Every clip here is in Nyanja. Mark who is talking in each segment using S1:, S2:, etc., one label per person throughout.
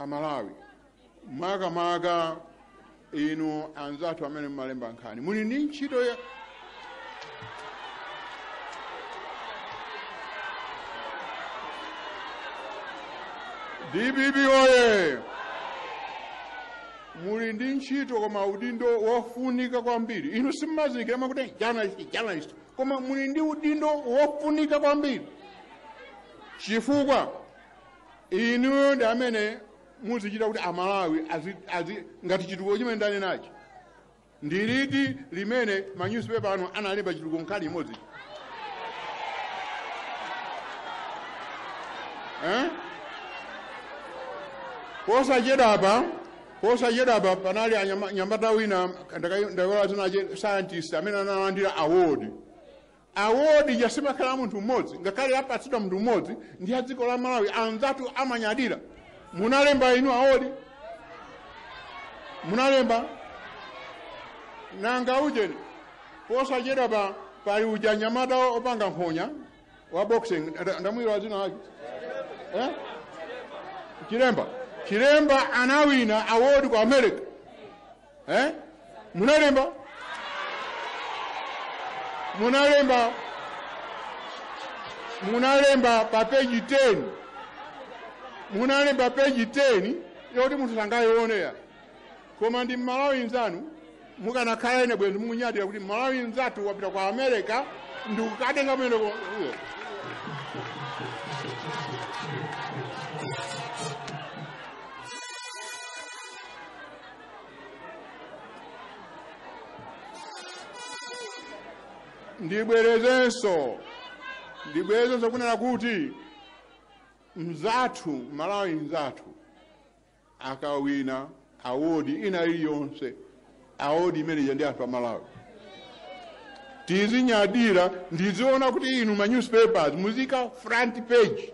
S1: amalawi makamaka inu anzathu amene mumalemba nkhani muli ndi ntchito ya dpp oye muli ndi ntchito koma udindo wofunika kwambiri inu simmazindikira mwakuti journalist journalist koma muli ndi udindo wofunika kwambiri chifukwa inuyo ndi amene muzichita kuti amalawi azi, azi, ngati chitukuko chimene ndanenachi ndiliti limene manyusipepa anu analemba chitukuko nkhani imodzi eh? posachedapa posachedapa panali anyama- mnyamata wina ndayiwala dzina lache scientist amene analandira award award ija simakhala ya munthu mmodzi ngakhale apatsidwa munthu mmodzi ndi ya dziko la malawi anzathu amanyadira munalemba inu award munalemba nanga ujeni posachedapa pali uja mnyamata opanga nkhonya wa boxing nda- ndamuiwala dzina lake eh? chilemba chilemba anawina award kwa america eh? munalemba munalemba munalemba pa peji 10 munalemba peji 10 yoti munthu sangayiwone koma ndi mmalawi nzanu mukanakhala ine bwenzi mukunyadira kuti mmalawi nzathu wapita kwa america ndikukatenga mwendo ko- uyo. ndibwerezenso ndibwerezenso kunena kuti mzathu mmalawi mzathu akawina awodi ina iliyonse awodi imeneja ndi yathu amalawi tizinyadira ndiziwona kuti inu ma newspapers muziika front page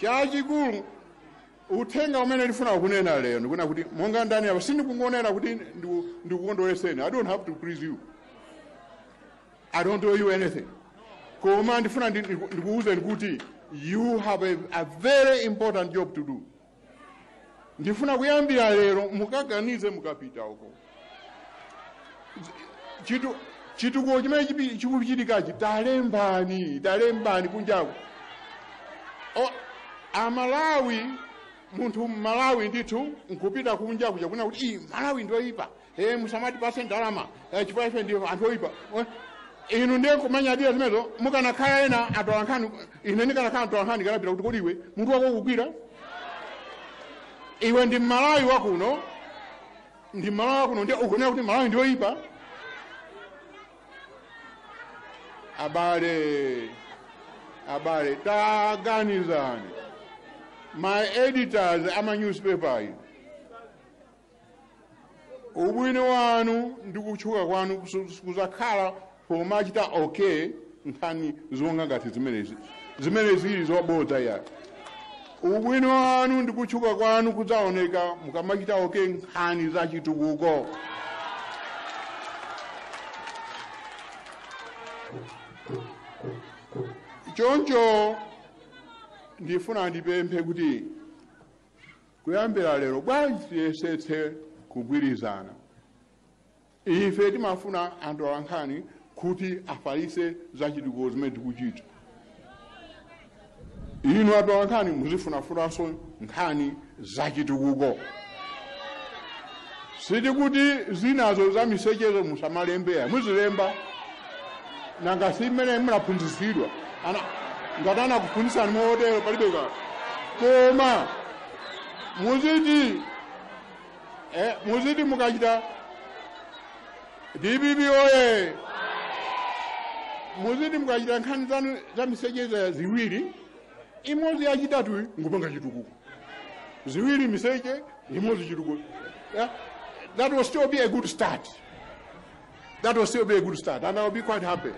S1: chachikulu uthenga umene ndifuna kunena lero ndi kunena kuti monga ndanena apa sindikungonena kuti ndiku- ndikukondoleseni i don't have to please you i don't owe you anything koma ndifuna ndi- ndiku- ndikuwuzeni kuti you have a, a very important job to do ndifuna kuyambira lero mukaganize mukapita uko chitu- chitukuko chimene chipi- chikuchitikachi talembani talembani kunjaku O- amalawi munthu mmalawi ndithu nkupita kunja kuja kukanena kuti "Ii, malawi ndoyipa e musamatipase ndalama eh, chifukwa ife ndife anthu oyipa Eh, inu ndiye kumanyadira zimenezo mukanakhala ena atola nkhani ine ndikanakhala atola nkhani nkanapita kuti kodi iwe munthu wako ukugwira iwe ndi mmalawi wakuno ndi mmalawi wakuno ndiye ukunena kuti malawi ndi oyipa abale abale taganizani my editors ama newspaper ayi ubwino wanu ndi kutchuka kwanu kusu- kuzakhala pomachita ok nkhani zokha ngati zimenezi zimene zili zobodza ya ubwino wanu ndi kutchuka kwanu kudzaoneka mukamachita ok nkhani za chitukuko choncho ndifuna ndipemphe kuti kuyambira lero bwanji tiyesetse kugwirizana ife timafuna atolankhani kuti afalitse zachitukuko zimene tikuchita inu atolankhani muzifunafunanso nkhani zachitukuko sitikuti zinazo za misechezo musamalembe ya muzilemba nanga si mmene munaphunzitsidwira ngati anakuphunzitsani motero palibe ka koma muziti eh, muziti mukachita dpp oye muziti mukachita nkhani zanu za misechezo ya ziwiri imodzi yachitatu nkupanga chitukuko ziwiri miseche imodzi chitukuko yeah? that will still be a good start that will still be a good start and i'll be quite happy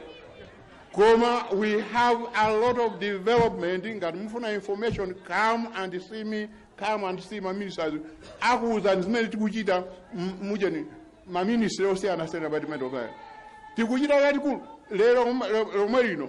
S1: koma we have a lot of development ngati mufuna information come and see me come and see my ministers akuwuzani zimene tikuchita m- mujeni ma ministry osiyanasiyana department of health tikuchita yatikulu lero lomwe lino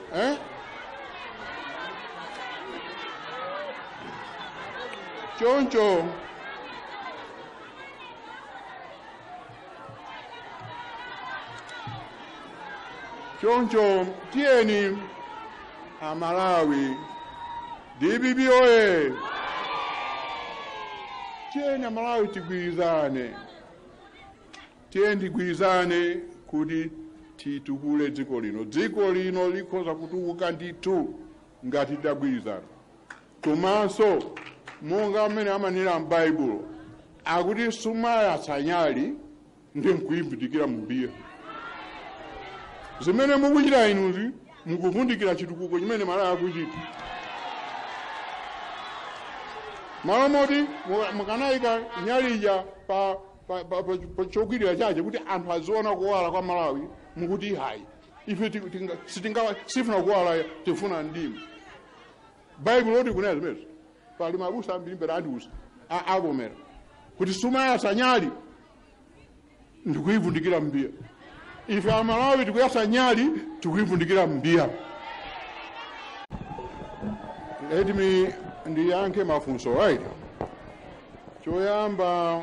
S1: eh? choncho choncho tiyeni amalawi dpp oye tiyeni amalawi tigwirizane Tiyeni tigwirizane kuti titukule dziko lino. Dziko lino likhoza kutukuka ndithu ngati titagwirizana. Komanso monga mmene amanena m'Baibulo akuti sumayatsa nyali ndi nkuyivundikira mumbiya. Zimene mukuchita inuzi mukuvundikira chitukuko chimene Malawi akuchita. Malo moti mukanayika nyali ija pa pa- pa- pa- pa- chokwirira chache kuti anthu aziona kuwala kwa malawi mukuti hayi ife ti- tinga- sitinga- sifuna kuwala tifuna mdima baibulo lotikunena zimenezo pali mabusa ambiri mbwera andiuza a- avomera kuti sumayatsa nyali ndikuyivundikira mbiya ife amalawi tikuyatsa nyali tikuyivundikira mbiya let me ndiyankhe mafunso right choyamba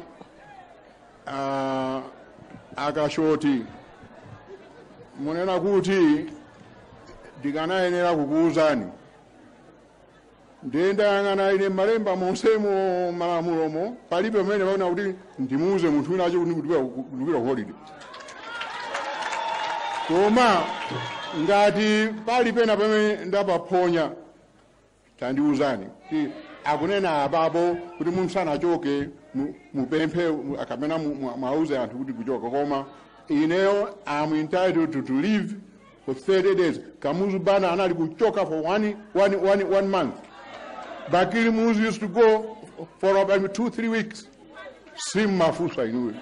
S1: uh, akashoti munena kuti ndikanayenera kukuwuzani ndiye ndayang'ana ine malemba monsemo m'malamulomo palibe pamene paona kuti ndimuuze munthu wina wache kuti ndikupita ku holiday koma ngati pali pena pamene ndapaphonya tandiuzani kuti akunena apapo kuti munthu asanachoke mu- mupemphe mu- kapena mu- mu- mwauze anthu kuti kuchoka koma ineyo I'm entitled to, to leave for 30 days kamuzu banda anali kuchoka for one, one, one, one month bakili muluzi used to go for about two three weeks simmafunsa inuyo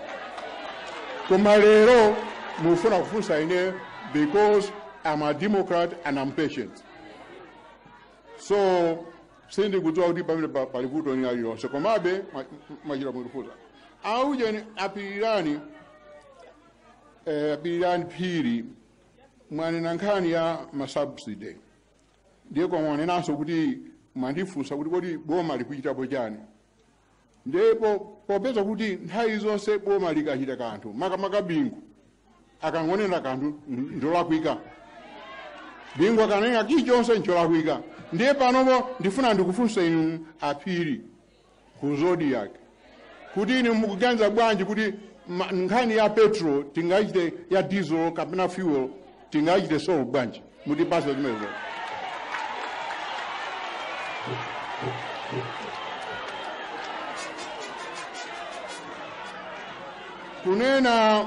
S1: koma lero mufuna kufunsa ine because i'm a democrat and i'm patient so sindikudziwa kuti pamene pa- pali vuto lina lililonse komabe mwa- mwachita kundifunsa aujeni apilirani eh, apilirani phiri mwanena nkhani ya masubsidy ndiye kwa mwanenanso kuti mwandifunsa kuti kodi boma likuchitapo chani Ndiye popeza kuti nthawi zonse boma likachita kanthu makamaka bingu akangonena kanthu ncholakwika bingu akanena chilichonse ncholakwika ndiye panopo ndifuna ndikufunseni inu aphiri ku zodiak kuti inu mukuganiza bwanji kuti ma- nkhani ya petrol tingaichite ya diesel kapena fuel tingachite solve bwanji mutipatse zimenezo kunena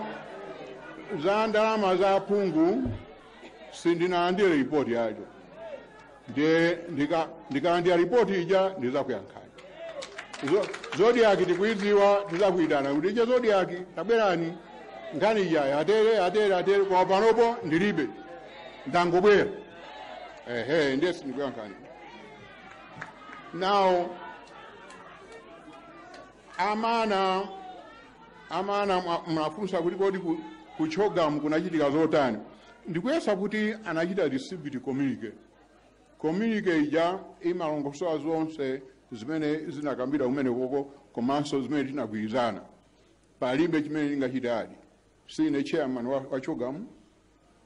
S1: za ndalama za aphungu sindinalandire ripoti yacheyo ndiye ndika- ndikalandira ripoti ija ndizakuyankhani Zo- zodiaki tikuidziwa tizakuitana kuti ija zodiaki tabwerani nkhani ijayi atere atere atere kwa panopo ndilibe ndangobwera ehe ndiye sindikuyankhani nawo amana amana mna- mwafunsa kuti kodi ku- ku CHOGM kunachitika zotani Ndikuyesa kuti anachita distribute communique. Communique ija imalongosola zonse zimene zinakambidwa kumenekoko komanso zimene tinagwirizana. Palibe chimene ndingachite add. Sindine chairman wa, wa CHOGM,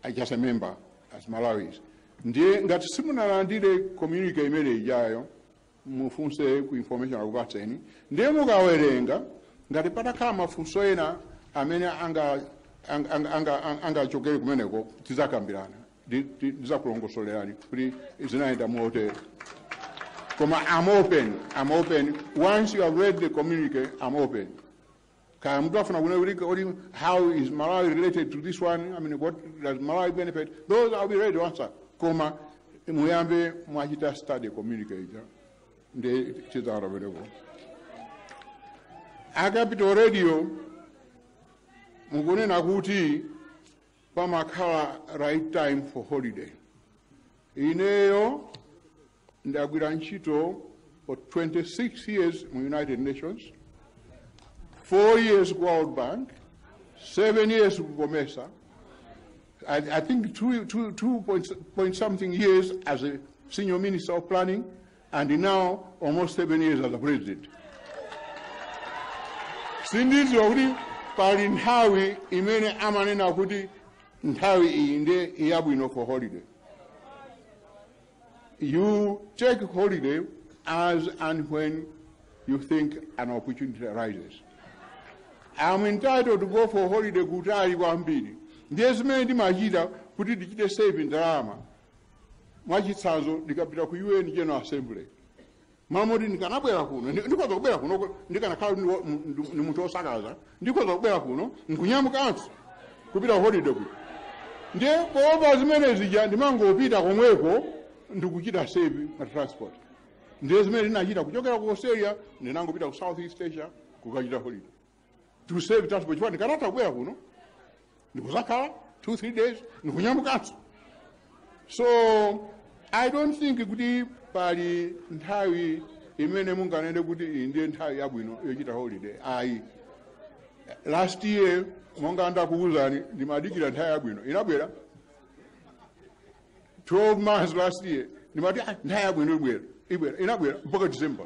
S1: I'm just a member as Malawi. Ndiye ngati simunalandire communique imene ijayo, mufunse ku information akupatseni ndiye mukawerenga ngati patakhala mafunso ena amene anga- anga- anga- anga- anga- angachokere kumeneko tizakambirana Ndi- ndi- ndizakulongosolerani kuti zinayenda motere koma i'm open i'm open once you have read the communique i'm open kaya mtu afuna kuna ulika uli how is malawi related to this one i mean what does malawi benefit those i'll be ready to answer koma muyambe mwachita study communique ndiye it's available a Capital Radio mukunena kuti pamakhala right time for holiday ineyo Ndagwira ntchito for 26 years mu United Nations, 4 years ku World Bank, 7 years ku Comesa, I, I think 2, 2, 2 point, point something years as a senior minister of planning, and now almost 7 years as a president. sindidziwa kuti pali nthawi imene amanena kuti nthawi iyi ndiye yabwino for holiday You take holiday as and when you think an opportunity arises. I'm entitled to go for holiday kutali kwambiri. Ndiye zimene ndimachita kuti ndichite save ndalama. Mwachitsanzo ndikapita ku UN General Assembly. mmalo moti ndikanabwera kuno ndi- ndikhoza kubwera kuno ku- ndikanakhala ndi wo- mu- ndi- ndi munthu wosakaza ndikhoza kubwera kuno nkunyamukanso kupita holiday kuno ndiye poopa zimene zija ndimangopita komweko ndikuchita save pa transport ndiye zimene ndinachita kuchokera ku australia ndinangopita ku south east asia kukachita holiday to save transport chifukwa ndikanatha kubwera kuno ndikuzakhala 2 3 days ndikunyamukanso so i don't think kuti pali nthawi imene munganene kuti iyi ndiye nthawi yabwino yochita holiday ayi last year monga ndakuwuzani ndimadikira nthawi yabwino inabwera 12 months last year ndimati "Ah, nthawi yabwino ibwera ibwera inabwera mpaka december